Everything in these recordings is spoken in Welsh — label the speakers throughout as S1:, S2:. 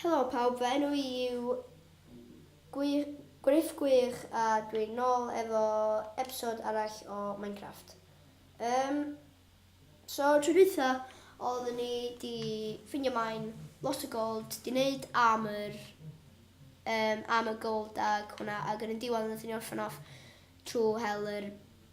S1: Helo pawb, fy enw i yw Gwir, Gruff Gwir a dwi'n nôl efo episode arall o Minecraft. Um, so, tro dwytha, oeddwn ni di ffindio maen lot o gold, di wneud armor, um, armor gold ag hwnna, ag yn y diwedd oeddwn ni orffen off trwy hel yr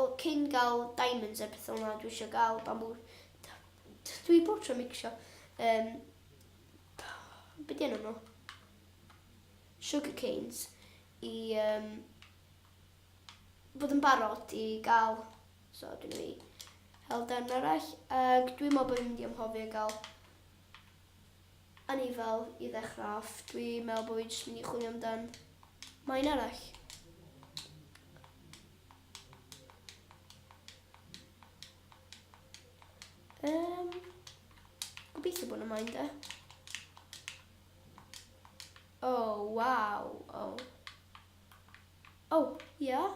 S1: O cyn ga'l diamonds a petha fel 'na dwi isio ga'l bambŵ d- d- dwi bob tro micsio yym be' 'di enw n'w? Sugar canes i yym bod yn barod i ga'l so dwi'n mynd i hel darn arall ag dwi me'wl bo' fi'n mynd i anghofio ga'l O'n i fel, i ddechrau off, dwi meddwl bod fi jyst mynd i chwilio amdan mae un arall. Um, gobeithio bod yna maen da. Oh, wow. Oh. Oh, ia. Yeah.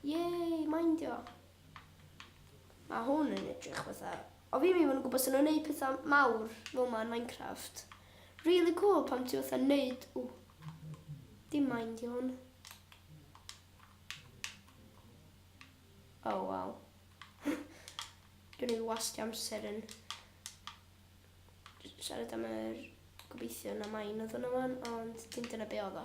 S1: Yay, maen dio. Mae hwn yn edrych fatha... O fi ddim yn gwybod sy'n nhw'n neud pethau mawr fel ma yn Minecraft. Really cool pan ti fatha neud... Ww. Dim mind i hwn. Oh wow. Dwi'n ei wasti amser yn siarad am yr gobeithio na main oedd hwnna wan, ond dim dyna be oedd o.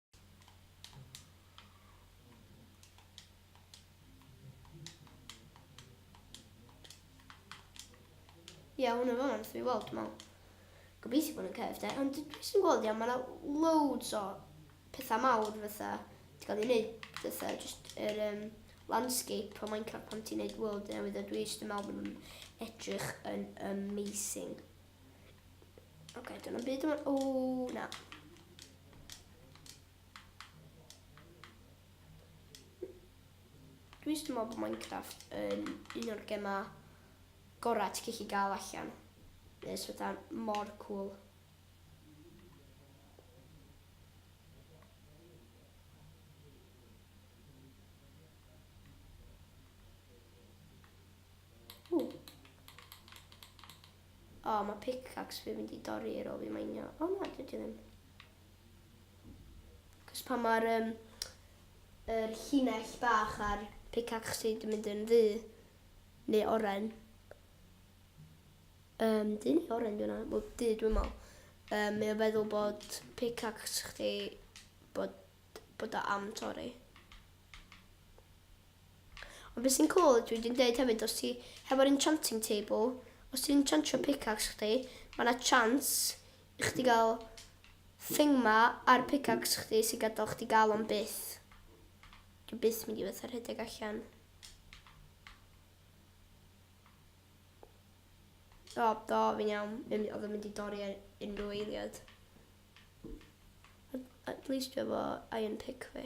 S1: Ie, yeah, hwnna fan, fi weld, dwi'n meddwl. Gobeithio bod yn cef, de. Ond dwi jyst yn gweld, iawn, mae yna loads o pethau mawr fatha, ti'n cael ei wneud fatha, jyst yr er, um, landscape o Minecraft pan ti'n wneud world newydd, a dwi jyst yn meddwl bod nhw'n edrych yn amazing. Oce, okay, dyna byd yma. O, na. Dwi'n just meddwl bod Minecraft yn un o'r gemau gorau ti'n gallu gael allan. Mae'n fatha mor cool. O, mae pickaxe fi'n mynd i dorri ar ôl fi mainio. O na, dwi ddim. Cos pan mae'r um, er llinell bach ar pickaxe ti, dwi'n mynd yn ddu. Neu oren. Um, dyn neu oren dwi'n meddwl. Wel, du dwi'n meddwl. Um, mae o feddwl bod pickaxe chdi bod, bod o am torri. Ond be sy'n cwl ydw i di'n deud hefyd os ti hefo'r enchanting table, os ti'n enchantio pickaxe chdi, mae yna chance i chdi gael thing ma ar pickaxe chdi sy'n gadael chdi gael o'n byth. Dwi'n byth mynd i fatha rhedeg allan. O, do, fi'n iawn. Oedd yn mynd i dorri ar unrhyw eiliad. At least dwi efo iron pick fi.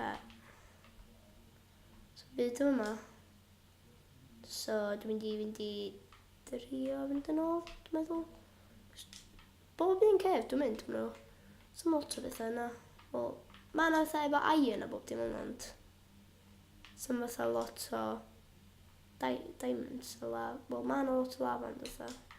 S1: Okay. So byd o yma. So dwi'n mynd i fynd i drio fynd yn ôl, dwi'n meddwl. Bob un cef dwi'n mynd, dwi'n meddwl. Sa'n lot o bethau yna. Wel, mae yna fatha efo iron a bob dim yna, ond... Sa'n fatha lot o... Di diamonds o la... Wel, mae yna lot o lava ond fatha.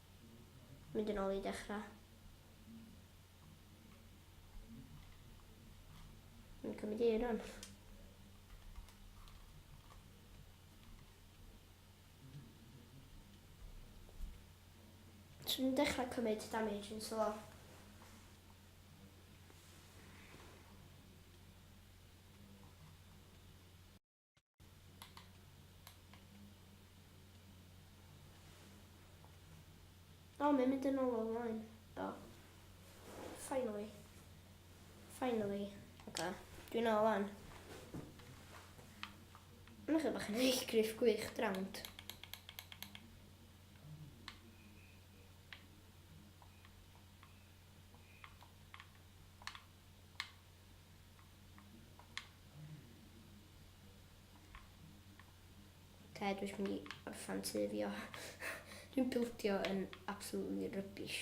S1: Mynd yn ôl i dechrau. Yn cymryd i rhan. So ni'n dechrau cymryd damage yn slo. O, mae'n mynd yn ôl ymlaen. Do. Finally. Finally. Oce, dwi'n ôl lan. Mae'n eich bach yn eich griff gwych drawnt. Te, dwi'n mynd i orffan tu fi o. dwi'n bildio yn absolutely rubbish.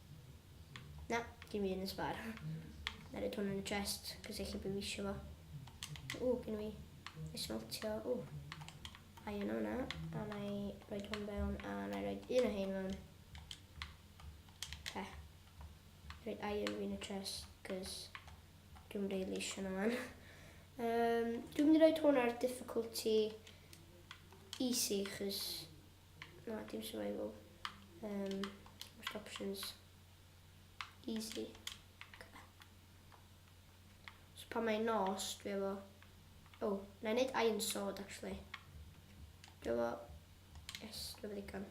S1: Na, dim un yn sbar. Na rhaid hwn yn y chest, cos eich bod fi eisiau fo. O, gen i esmeltio. O, a yna hwnna. A na i roed hwn fewn, a na i roed un o hyn fewn. He. Roed iron fi yn y chest, cos dwi'n rhaid eisiau na fan. Um, dwi'n mynd i roed hwn ar difficulty easy, chos Na, dim survival. Um, most options. Easy. Okay. So pan mae'n nos, dwi efo... Oh, na i wneud iron sword, actually. Dwi efo... Yes, dwi efo ddigon.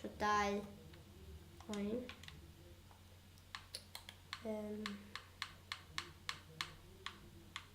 S1: So dau... Oen. Um,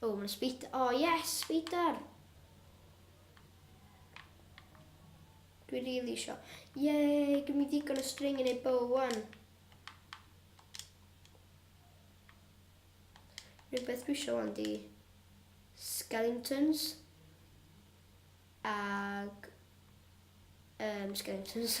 S1: O mae'n sbit, o oh, yes, sbidar! Dwi really isio. Yay, gym i ddigon o string yn ei bo wan. Rhywbeth dwi isio wan di skeletons ag um, skeletons.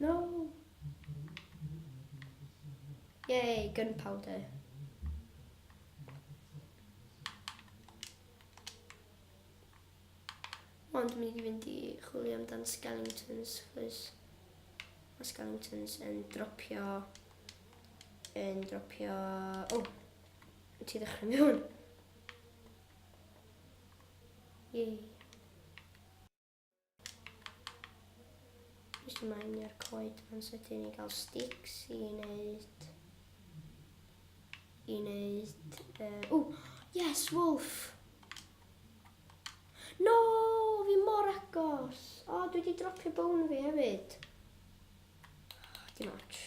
S1: No! Yay, gunpowder. Ond dwi'n mynd i fynd i chwilio amdan skeletons, chos mae skeletons yn dropio, yn dropio, o, oh, ti ddechrau mewn. Yay. Just ymlaen i'r coed ma'n sydyn i gael sticks i wneud... I wneud... Uh, oh, yes, wolf! No, fi mor agos! O, oh, dwi wedi dropio bone fi hefyd. Oh, dim ots.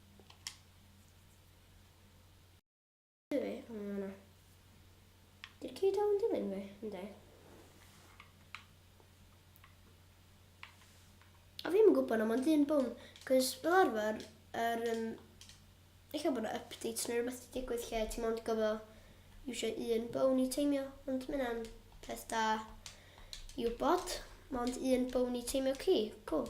S1: Dwi, am yna. Dy'r ci dal yn dilyn fi, ynddi? A fi'n yn gwybod na mae'n dyn bwn, cos fel arfer, yr, um, eich bod yna updates neu rhywbeth wedi digwydd lle ti'n mynd gofio eisiau un bwn i teimio, ond mae hynna'n peth da i wybod. Mae ond un bwn i teimio ci, cool.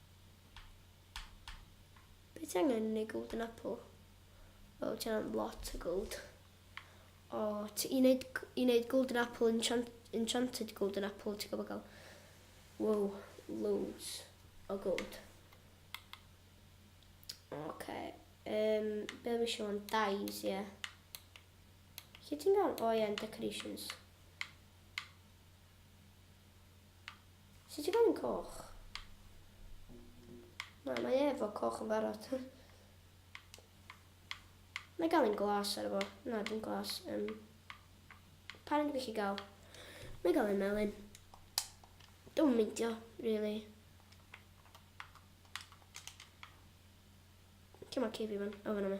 S1: Be ti angen yn ei golden apple? Wel, ti angen lot o gold. O, ti, i wneud, i wneud golden apple, enchant, enchanted golden apple, ti'n gwybod gael, wow, loads o gold. Oce, okay. um, be fi eisiau o'n dyes, ie. Yeah. Lle ti'n gael? O, oh, ie, yeah, decorations. Sut ti'n gofyn coch? Na, mae e efo coch yn barod. Mae gael un glas ar efo. Na, dim glas. Um, pa rhaid i chi gael? Mae gael un melyn. Dwi'n meindio, really. Cym o cifi fan, o fan yma.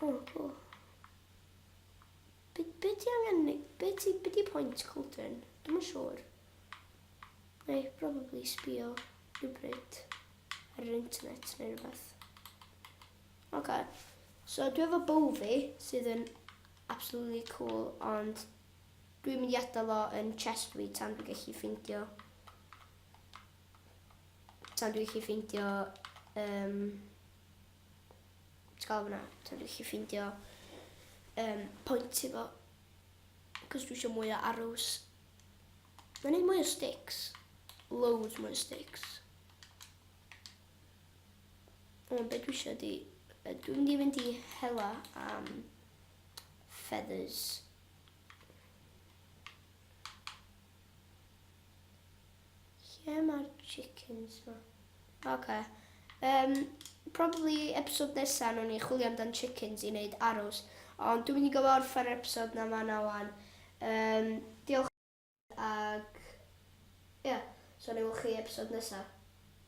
S1: Oh, cool. Be, be ti angen ni? Be ti, be ti pwynt Colton? Dwi'n yn siŵr. Mae eich probably sbio rhywbryd ar yr internet neu rhywbeth. Oce. Okay. So dwi efo bow fi sydd yn absolutely cool ond dwi'n mynd i adael o yn chest fi tan dwi'n gallu ffeindio Tan dwi'n chi ffeindio um, ti'n cael fyna, tan dwi'n chi ffeindio um, pwynt i fo. Cos dwi eisiau mwy o arrows. Mae'n ei mwy o sticks. Loads mwy o sticks. Ond beth dwi eisiau di... Dwi'n mynd i fynd i hela am feathers. Lle mae'r chickens ma? Ok. Um, probably episode nesa nhw'n i chwilio amdan chickens i wneud arrows. Ond dwi'n mynd i gofio orffen yr episode na ma na wan. Um, diolch ag... Ie, yeah. so ni wch chi episode nesa.